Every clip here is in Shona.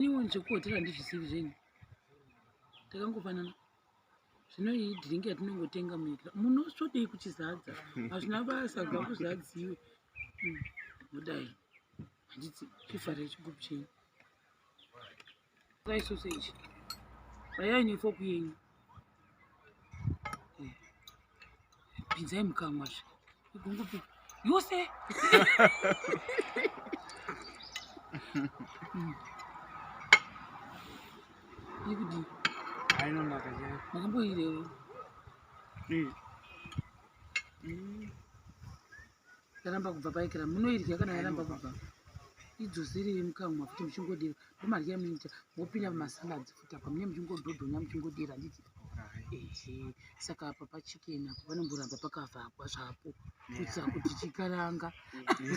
Anyone chekuhotera handizvisivi zvenyu. Takangofanana. Zvino iyi drink yatinongotenga munyika. Munosodei kuchizadza. Hazvina basa kubva kuzvadziwe. Hmm, Mudai. Handiti chifara chigroup chenyu. Try sausage. Vaya ine fork yenyu. pinzai mukamwa zve igungupi yose yekuti ainonaka chai makamboirewo yaramba kubva paikira munoidya kana yaramba kubva idzosere mukamwa futi muchingodira ndomadya munoita mopinda mumasaladzi futi apa mune muchingodhodhonya muchingodira handiti ehe saka apa pachikena apo panomboramba pakavhagwa zvapo kuitira kuti chikaranga iyi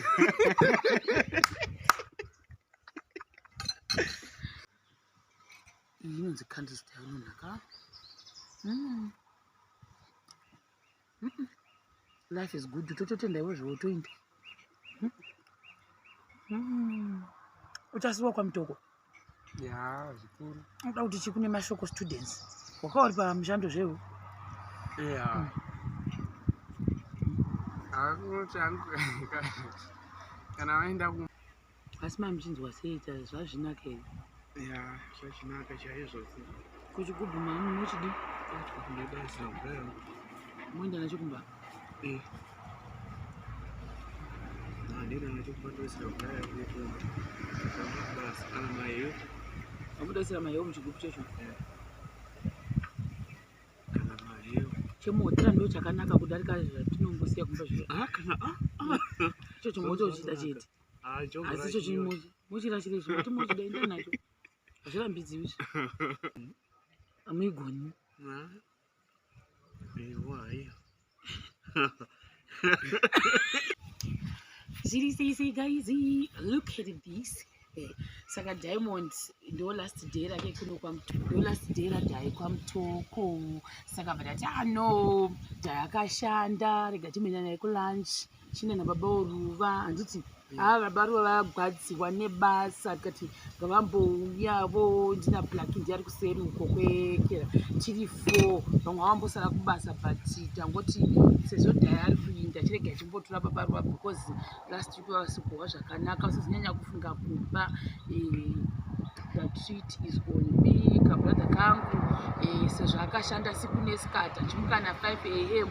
inonzi candlestick inonaka mm. life is good tototenda iwo zvowo toindi hmm. uchasiwa kwamutoko ya zvikuru unoda kuti chi kune mashoko students waka uri pamushando zvewo ya hmm. kana vaenda ku asi mai muchinzwa sei ta zvazvinaka here ya zvachinaka chaizvo kuchigubhu mama munochidi nebasa moenda nacho kumba eh. handina nacho kumba ndoisira kudaya kunekumba basa kana maiyo amudaisira maiyo muchigubhu chacho eh. kana maiyo chemuhotera ndo chakanaka kudarika zvatinombosiya kumba zviro ah, ah, ah. icho chimota uchida chete Ah, jogo asi icho rakiyo. chimochi mochirashira izvo mati mochida enda nacho hazvirambidziwi izvo amuigoni Ah. Ewa, iya. zviri sei sei guys look at this Eh, saka diamond ndo last day rake kuno kwamutoko ndo last day radhai kwamutoko saka vadati ah no dhai akashanda rega timhena naye kulunch china nababa oruva handiti haa baba ruva vagwadziwa nebasa tikati ngavambouya vo ndina black ndi ari kuseri uko kwekera tiri four vamwe vavambosara kubasa but tangoti sezvo dhaya ari kuinda chirege achimbotora baba ruva because last week vavasikuhwa zvakanaka vasizinyanya kufunga kuba eh, the treat is on me kabrother kangu eh, sezvo akashanda siku nesikati achimuka na 5 am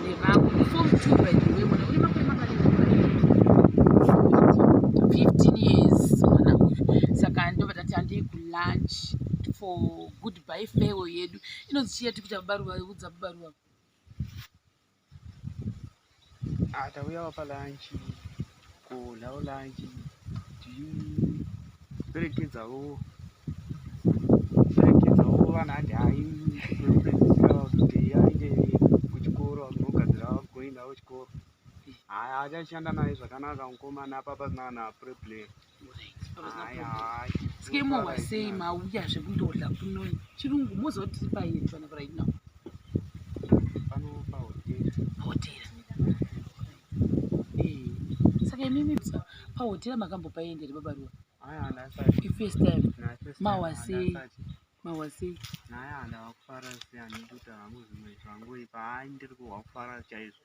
nevamwe before mutube by the way mwana une makore makani 15 years mwana uyu saka ndobva tati handei kulunch for goodbye farewell yedu inonzi chiya tikuti abaruva udza baruva Ah, tauya wapa lunch kodlawo lunch tiperekedzawo perekedzawo vana handi hai vekupedzisira kuti aende kuchikoro akunogadzira vagoindawo chikoro haya achashanda naye zvakanaka mukomana apapa zina na preplayer skemowa sei mauya zvekundodla kunoi chirungu moziva kuti tiri paini fana right now hotera eh, saka imimi pahotera makambopaendere babaruwa ifirst time mawasei mawasei naya ndavakufara seanekuti havangu zvimwe zvangu ipa haindiri kuhwakufara chaizvo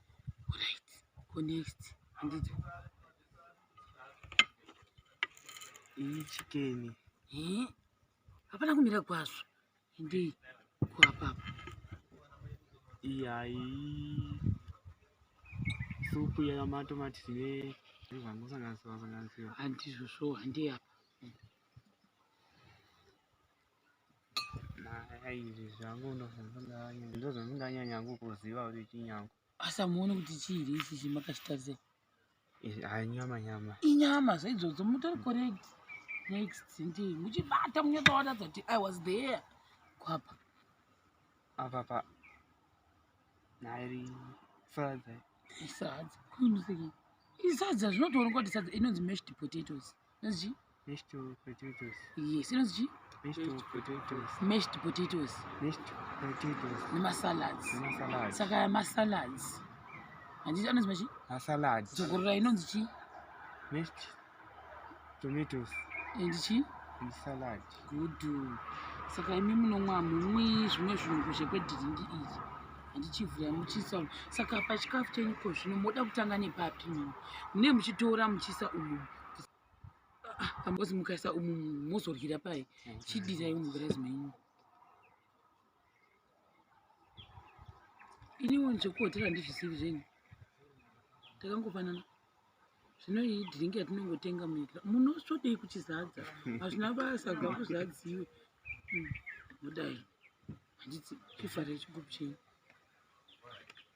Alright, go next. Handiti. Iyi chicken. Eh? Hapana kumira kwazvo. Hindi kwa papa. Iyayi. Supu ya tomato matine. Vangu sanganisiwa sanganisiwa. Handizvo so handi apa. izvi zvangu ndo zvandinganyanya hangu kuziva kuti chinyangu asi amuone kuti chiiri ichi chimakachitarise hanyama nyama inyama zvaidzodzo mutori correct next ndii muchibata munyotoona zati i was there kwapa apa pa nairi sadza isadza kuimusiki isadza zvinotoonekwa kuti sadza inonzi mashed potatoes inonzi chii Mashed potatoes. yes inonzi chii Mashed potatoes. mashed potatoes Mashed potatoes. nemasalads Masalad. saka masalads handiti anonzi machi Masalad. dzogorora inonzi chii Mashed tomatoes. and chii And salad. good saka imi munomwa mumwi zvimwe zvirungu zvekwedirindi iri handichivhura muchisa umu. saka pachikafu chenyu ko zvino moda kutanga nepapi mimi mune muchitora muchisa umu ambozi mukaisa umu mozoryira pai chidii chaimugirazi menyu iniwo zvekuhotera ndizvisivi zvenyu takangofanana zvino iyi dhiringi yatinongotenga muita munosvodei kuchizadza hazvina basa gakuzvadziwe hmm, mudai handiti chifare chigupu chenyu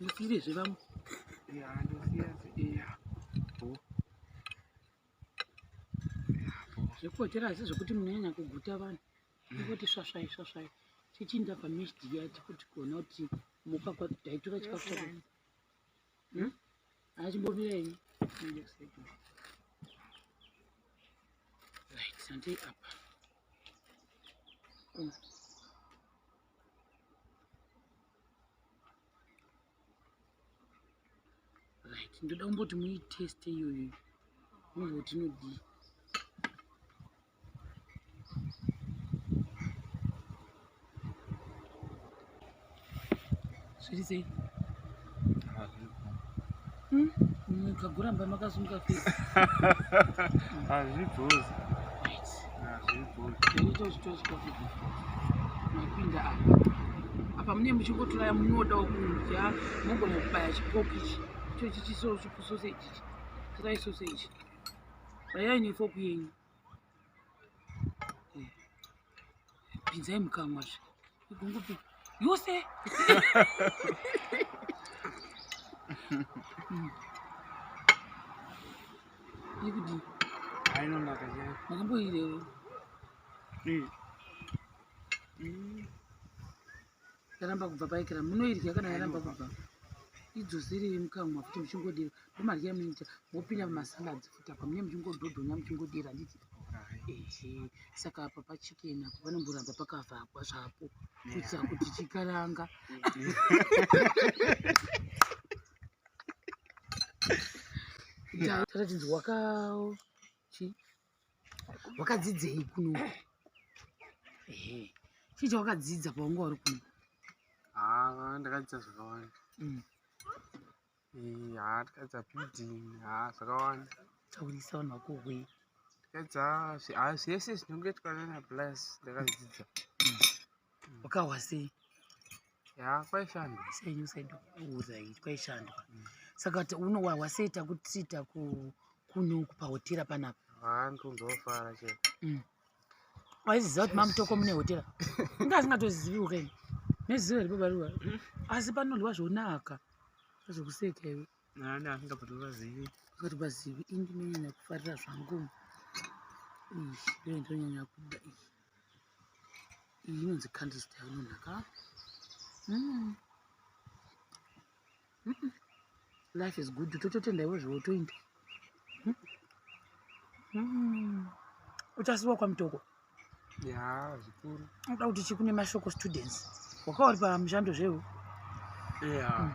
Ndisire zve vamwe. Ya, ndosiya iya. Bo. Zvekupotera asi zvekuti munyanya kuguta vanhu. Ndikuti swasvai swasvai. Chichinda pamishdi yati kuti kuona kuti muka kwati taitora chikafu chako. Hmm? Achimbomira ini. Right, sante apa. Hmm. Right, ndoda kumboti muiteste iyoyo. Muzoti nodii. zviri sei hmm? mukaguramba makasunga fesi hazvibhozi mapinda apa apa mune muchingotoraya munodawo kudya mogona kubaya chikoki ichi icho chichisochikusose ichichi torai sose ichi rayai nefoku yenyu pinzai mukamwa zve igungupi yose yekuti ainonaka chai makamboirewo yaramba kubva paikira munoidya kana yaramba kubva idzosere yemukamwa futi muchingodira ndomadya munoita mopinda mumasaladzi futi apa mune muchingodhodhonya muchingodira handiti ehe saka apa pachicken apo panomboramba pakavhagwa zvapo kuitira kuti chikaranga taratidzi wakawo chii wakadzidzei kuno ehe chii chawakadzidza paunga wari kuno haa ah, ndakadzidza zvakawanda mm. eh, haa ah, ndakadzidza building haa ah, zvakawanda taurisa vanhu vako hwe ndakadzidza haa zvese zvinongetwa nana plus ndakadzidzisa mm. wakahwa sei ya kwaishandwa senyu saiuza ii kwaishandwa mm. saka unowahwa sei takuti taku kunoku pahotera panapa handondofara che mm. waiziziva kuti mamutoko mune hotera inga asingatozivi ukeni neziva ri babaruwa mm. asi panodyiwa zvonaka zvekuseka iwe nani asingatovazivi asingatovazivi indinonyanya kufarira zvangu ii ndonyanya kuda ii iyi inonzi candles tayo inonaka mm. mm. life is good tototenda iwo zvowo toinda mm. mm. uchasiwa kwamutoko ya zvikuru unoda kuti chikune mashoko students wakauri pamushando zvewo ya mm.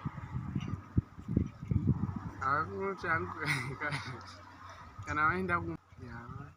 akunoti kana vaenda ku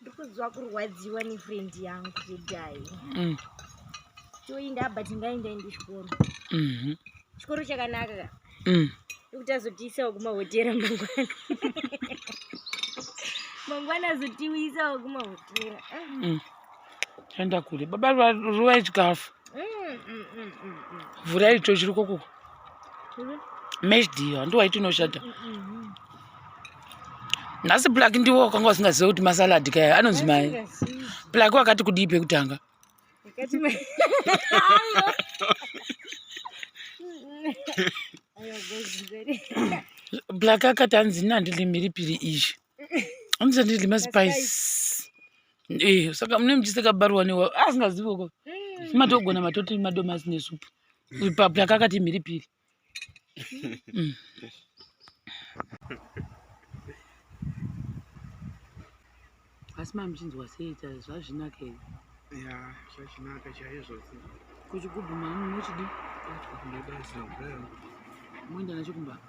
ndikuziva kurwadziwa nefriend yangu kudai mm. toinda but ngainda indi chikoro mhm. chikoro chakanaka ka mm. nekuti azotiisawo kumahotera mangwana mangwana azotiisawo kumahotera ah. mm. enda kule baba ruvai chikafu vhurai icho chiri kokuku meshdio handiwa iti unoshata nhasi plak ndiwo wakanga usingazive kuti masaladi kaya anonzi mai plak wakati kudii pekutanga plak akati anzi ini handilimi ripiri izvi anzi handilima spice eh, saka mune muchisekabaruwa newa asingazive ko matogona matoti madomasi nesupu ipapo yakakati mhiripiri mm. asi mamuchinzwa sei ta zvazvinaka ii ya zvazvinaka chaizvo kuchigubhu mani munochidi moenda nacho kumbaa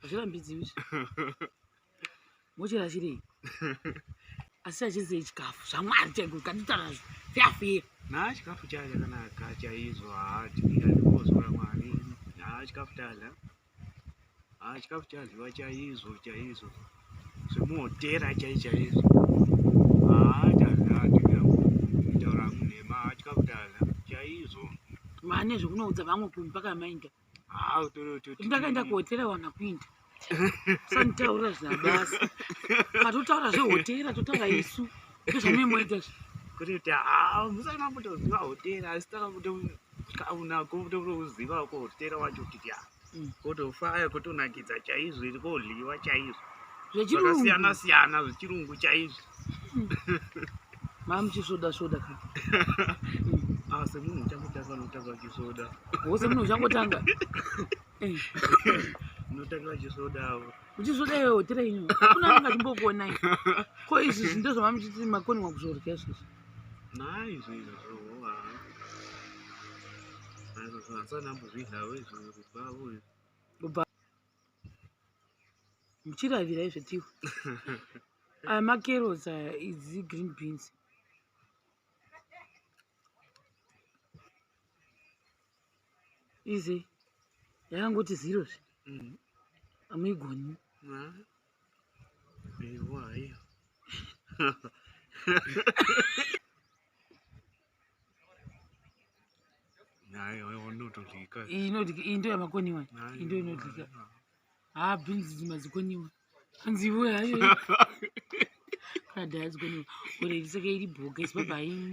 hazvirambidziwi izvi mochera chirei asi achizei chikafu zvamwari chaiko kanditarazvo fyafira naa chikafu chaya chakanaka chaizvo haatiiaozora mwari naa chikafu tadla haa chikafu chadliwa chaizvo chaizvo zvemuhotera chai chaizvo haa tadla taaura munhema haa chikafu tadla chaizvo mane zvekunoudza vamwe kumbi pakamainda Ah, utore utoti. ndakaenda kuhotera wana kuinda sanitaura zvabasa katotaura zvehotera totaura isu ndozvamuimoita zvi Kuti kuti ah, musati mambotoziva hotera asi taka kuto kauna kutokuziva ko hotera wacho kuti ah. Mm. Kotofaya kotonakidza chaizvo iri kohliwa chaizvo. zvechirungu Zvakasiyana siyana zvechirungu chaizvo. mamuchisvoda svoda ka asi ah, munhu uchangotanga notanga chisvoda wose munhu uchangotanga notanga vachisvoda avo uchisvoda iwe hotera ino akuna anenge achimbokuonai ko izvi zvi ndo zvamamuchiti makoningwa kuzvorya izvozvi naizvo izvozvohoa aizvozvo hasanambozvidlavo izvo kubva avo izvo muchiravira izvo tiu aya makeros aya idzi green beans izi yakangoti zero zve mm. amuigoni iyi ndo yamakoniwa iyi ndo inodlika haa bhinzi dzima dzikoniwa hanzi iwe hayo kadhaa dzikoniwa ore ndisaka iri bhoga isibaba haii